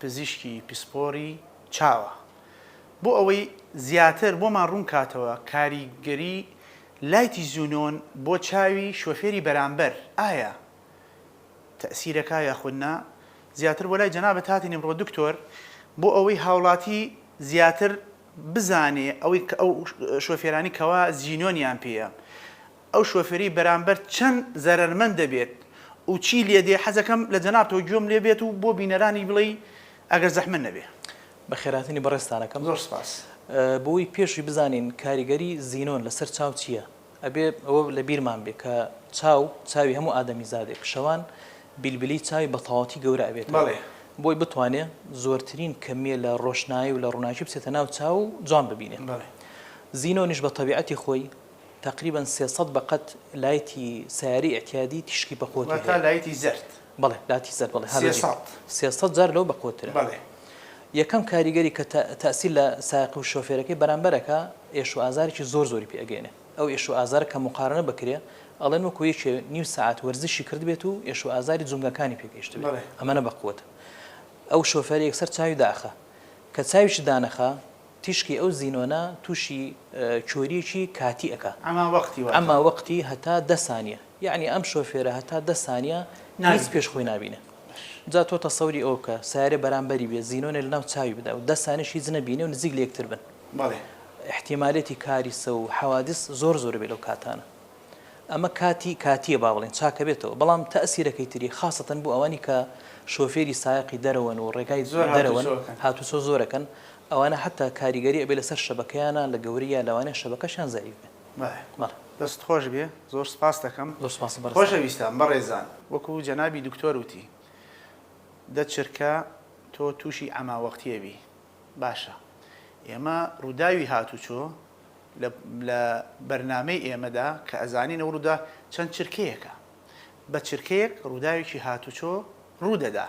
پزیشکی پسپۆری چاوە بۆ ئەوەی زیاتر بۆمان ڕوونکاتەوە کاریگەری لایتی زونۆن بۆ چاوی شۆفێری بەرامبەر ئایا تەئسیرەکا یاخود نا زیاتر بۆ لای جەنابت هاتین ئمڕۆ دکتۆر بۆ ئەوەی هاوڵاتی زیاتر بزانێ ئەوەی کە ئەو شۆفێرانی کەوا زینۆنیان پێیە ئەو شۆفێری بەرامبەر چەند زەرەرمەند دەبێت و چی لێدێ حەزەکەم لە جەنابتەوە گوێم لێ بێت و بۆ بینەرانیش بڵێی ئەگەر زەحمەت نەبێ. بەخێرهاتنی بەڕێزتان ئەکەم. زۆر سپاس. بۆوەی پێشی بزانین کاریگەری زینۆن لەسەر چاو چیە ئەبێ ئەوە لە بیرمان بێ کە چاو چاوی هەموو ئادەمیزادێک شەوان بیلبلی چاوی بە تەواوەتی گەورە ئەبێتەوە بۆی بتوانێ زۆرترین کەمیە لە ڕۆشنایی و لە ڕوناکی بچێتە ناو چاو و جوان ببینێ زینۆنیش بە تەبیعەتی خۆی تەقریبەن سێ سەد بە قەد لایتی سەیارەی ئیعتیادی تیشکی بە قوتی هەیە. واتە لایتی زەرد. بەڵێ لاتی زەرد بەڵێ هالۆجین. سێ سەد. سێ سەد جار لەو بە قوترە. بەڵێ. یەکەم کاریگەری کە تە تەئسیر لە سایەق و شۆفێرەکەی بەرامبەر ئەکا ئێش و ئازارێکی زۆر زۆری پێ ئەگەینێ. ئەو ئێش و ئازارە کە موقارەنە بکرێ ئەڵێن وەکوو یەکێ نیو سەعات وەرزشی کردبێت و ئێش و ئازاری جومگەکانی پێ گەیشتبێ. بەڵێ. ئەمەنە بە قوتە. ئەو شۆفێرە یەکسەر چاوی دائەخا. کە چاویشی دانەخا تیشکی ئەو زینۆنە توشی کۆریەکی کاتی ئەکا. ئەما وەقتی واتە. ئەما وەقتی هەتا دە سانیە. یەعنی ئەم شۆفێرە هەتا دە سانیە هیچ پێش خۆی نابینێ. جا تۆ تەسەوری ئەوە بکە سەیارەی بەرامبەری بێ زینۆنێ لەناو چاوی بدا و دە سانیەش هیچ نەبینێ و نزیک لەیەکتر بن. بەڵێ. ئیحتیمالێتی کاریسە و حەوادیس زۆر زۆر بێ لەو کاتانە. ئەمە کاتی کاتیە با بڵێین چاکەبێتەوە. بەڵام تەئسیرەکەی تری خاسەتەن بۆ ئەوانی کە شۆفێری سایەقی دەرەوەن و ڕێگای دەرەوەن هاتوچۆ زۆر ئەکەن ئەوانە حەتا کاریگەری ئەبێ لەسەر شەبەکەیانا لە گەورەیا لەوانەیە شەبەکەشیان زەعیف بێ. بەڵێ. دەستت خۆش بێ زۆر سپاست دەکەم. زۆر سپاس بەڕێزتان. خۆشەویستان بەڕێزان وەکو جەنابی دکتۆر وتی دە چرکە تۆ توشی عەما وەقتیە بی باشە ئێمە ڕوداوی هاتوچۆ لە لە بەرنامەی ئێمەدا کە ئەزانین ئەو ڕودا چەند چرکەیەکە بە چرکەیەک ڕووداوێکی هاتوچۆ ڕوودەدا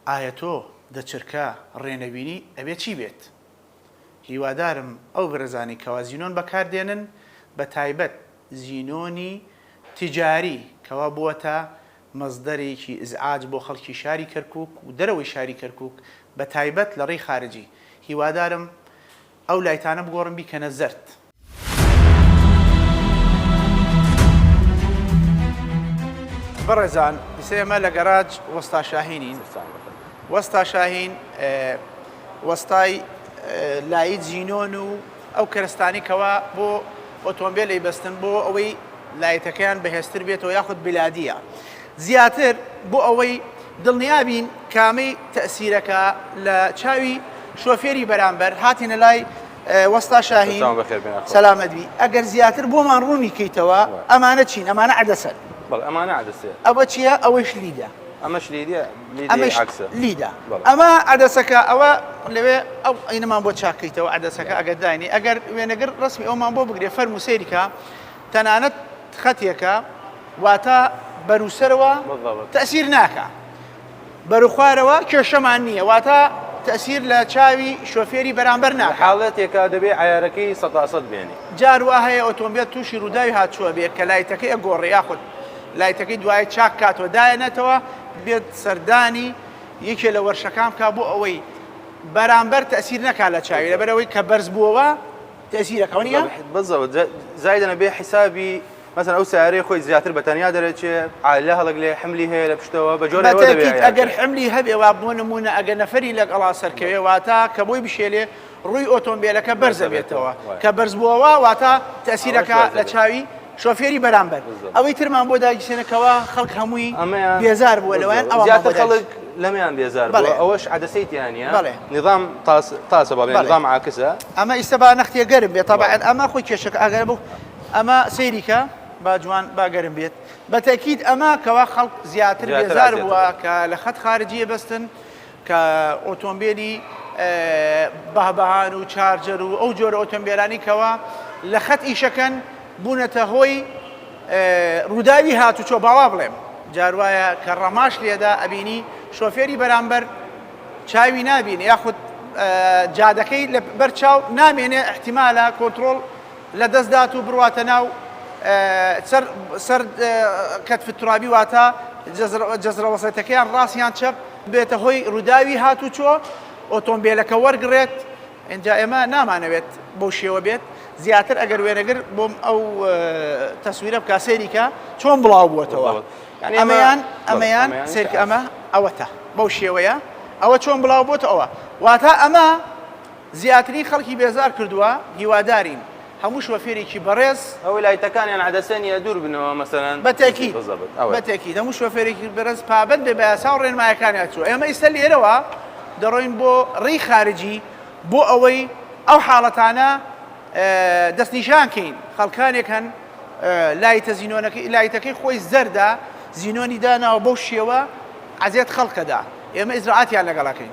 ئایا تۆ دە چرکە ڕێ نەبینی ئەبێت چی بێت؟ هیوادارم ئەو برەزانەی کەوا زینۆن بەکار دێنن بە تایبەت زینۆنی تجاری کەوا بووەتە مەزدەرێکی ازعاج بۆ خەڵکی شاری کەرکوک و دەرەوەی شاری کەرکوک بە تایبەت لە ڕێی خارجی هیوادارم ئەو لایتانە بگۆڕن بیکەنە زەرد بەڕێزان ئیسە ئێمە لە گەراج وەستا شاهینین وەستا شاهین وەستای لایی جینۆن و ئەو کەرستانی کەوا بۆ ئۆتۆمبیلی بەستن بۆ ئەوەی لایتەکەیان بەهێزتر بێتەوە یاخود بلادیە زیاتر بۆ ئەوەی دڵنیابین کامەی تەسیرەکە لە چاوی شۆفێری بەرامبەر هاتینە لای وەستا شاهین دەستان بەخێر بێن ئەخوات. سەلامەت بی ئەگەر زیاتر بۆمان ڕوونی کەیتەوە ئەمانە چین ئەمانە عەدەسەن بەڵێ ئەمانە عەدەسەیە ئەوە چیە ئەوەیش لیدە ئەمەش لیدە لیدەی ئەمەش عەکسە لیدە بەڵێ ئەمە عەدەسەکە ئەوە لەوێ ئەو عەینەمان بۆ چاک کەیتەوە عەدەسەکە ئەگەر داینێ ئەگەر وێنەگر ڕەسمی ئەومان بۆ بگرێ فەرموو سەیری کە تەنانەت خەتێکە واتە بەروسەرەوە بالضبط تەئسیر ناکا. بەروخوارەوە کێشەمان نییە واتە تەئسیر لە چاوی شۆفێری بەرامبەر ناکات. لە حاڵەتێکا دەبێ عەیارەکەی سەتا سەت بێنی. جار وا هەیە ئۆتۆمبێل تووشی رووداوی هاتووە بێ کە لایتەکەی ئەگۆڕێ یاخود لایتەکەی دوایە چاک کاتەوە دایەنێتەوە بێت سەردانی یەکێ لە وەرشەکان بکا بۆ ئەوەی بەرامبەر تەئسیر نەکا لە چاوی لەبەر ئەوەی کە بەرز بووەوە تەئسیرەکە. بەزەوە زایدەنە بێ حیسابی. مەسەن ئەو سەیارەی خۆی زیاتر بە تەنیا دەرەچێ عالە هەڵک لێ حملی هەیە لە پشتەوە بە جۆرەوە دەبێت ئەگەر حملی هەبێ وا بۆ نمونە ئەگە نەفەری لەگەڵا سەرکەوێ واتا کە بۆی بشێلێ ڕووی ئۆتۆمبیلەکە بەرزەبێتەوە کە بەرزبووەوە واتا تەسیرەکە لە چاوی شۆفێری بەرامبەر ئەوەی ترمان بۆ داگیرسێنەکەەوە خەڵک هەمووی ئەمەیان بێزار بووە لەوان ئەوە خەڵک لەمیان بێزار بڵێ ئەوەش عدەسەیتیانە بڵێ نظام تاسە بەڵێ نظام عکسە ئەمە ئیسە با نەختێ گەرم بێت تاعات ئەمە خۆی کێشەکە ئەگەر بوو ئەمە سەیری کە با جوان با گەرم بێت بە تەکیید ئەمە کەوا خەڵک زیاتر بێزار بووە کە لە خەت خارجیە بەستن کە ئۆتۆمبیلی بەهبەهان و چارجەر و ئەو جۆرە ئۆتۆمبیلانی کەوا لە خەت ئیشەکەن بوونەتە هۆی ڕووداوی هاتوچۆ باوا بڵێم جاروایە کە ڕەماش لێدا ئەبینی شۆفێری بەرامبەر چاوی نابین یاخود جادەکەی لە بەر چاو نامێنێ احتیمالە کۆنتترۆل لە دەست دات و برواتە ناو چەر سەر کەتف الترابی واتە جزرە وسطەکەیان ڕاست یان چەپ بێتە هۆی ڕووداوی هاتوچۆ ئۆتۆمبیلەکە وەرگڕێت ئینجا ئێمە نامانەوێت بەو شێوە بێت زیاتر ئەگەر وێنەگر بۆم ئەو تەسویرە بکە سەیریکە چۆن بڵاو بووەتەوە ئەمەیان ئەمەیان سێک ئەمە ئەوەتە بەو شێوەیە ئەوە چۆن بڵاو بۆتەوە واتە ئەمە زیاتری خەڵکی بێزار کردوە هیوادارین هەموو شۆفێرێکی بەڕێز. ئەوەی لایتەکانیان عەدەسە نیە دوور بنەوە مەسەلەن بەتەکید موسیقی زەبت ئەوەیە. بەتەکید هەموو شۆفێرێکی بەرێز پابەند بێ بەیاساو ڕێنمایەکانی ئەتو ئێمە ئیستە لێرەوە دەڕۆین بۆ ڕێی خارجی بۆ ئەوەی ئەو حاڵەتانە دەست نیشان کەین خەڵکانێک هەن لایتە زینۆنەکەی لایتەکەی خۆی زەردە زینۆنی داناوە بەو شێوە عەزێت خەڵکەدا ئێمە ئیجرائاتیان لەگەڵ ئەکەین.